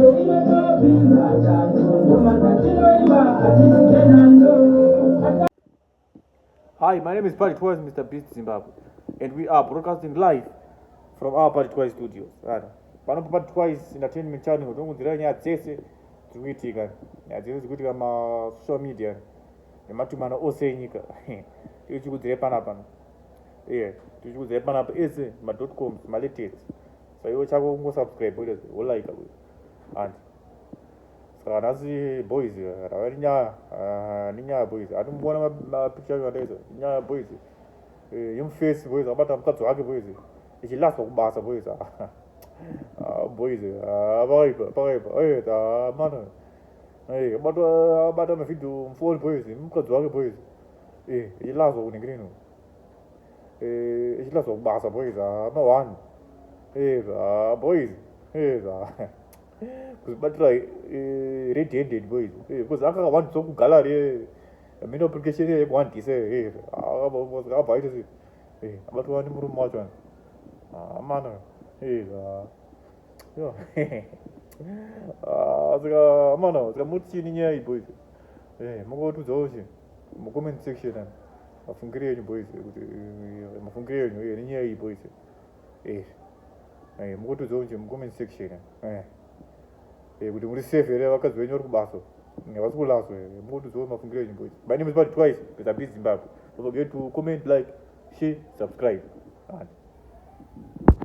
Hi, my name is Patrick Twice, Mr. Beast Zimbabwe, and we are broadcasting live from our Patrick Twice studios. Pano pa Patrick Twice Entertainment Channel, tongodzira nyaya dzese dziri kuitika, nyaya dzese dziri kuitika ma social media nematumana ose enyika. Tichikudzira pana pano. Yeah, tichikudzira pana ese ma dot coms, ma latest. so iwe chako kungosubscribe ule wolaika uyu and saka vanhasi boys ravari nyaya ah, ninyaya boys ati muona mapicture acho andaizwa nyaya boys eh, yomface boys abata mukadzi wake boys ichilaswa kubasa boys ah, boys ah, pakaipa pakaipa eh, mana eh, abata mavhidhio mufoni boys mukadzi wake boys ichilaswa kunenge nino Eh, ichida zobasa boys ah, no one eh, ah, boys eh, ah. kuzibatira eh, red handed boys eh, because anga one so kugallery eh, mine application eh, one dise eh, ah, boys ah, boys eh, but one muru macho ah, man eh, ah, yo ah, zika mano zika mutini nyaya boys eh, mukotudza oshi mu comment section eh. mafungire yenyu boys kuti eh, mafungire yenyu eh, nenyaya iyi boys eh eh mukotodzawo nje mucomment section eh eh kuti muri safe here vakadzi venyu vari kubaso havasi kulaso here mukotodzawo mafungire yenyu boys my name is bad twice besa be zimbabwe don't forget to comment like share subscribe and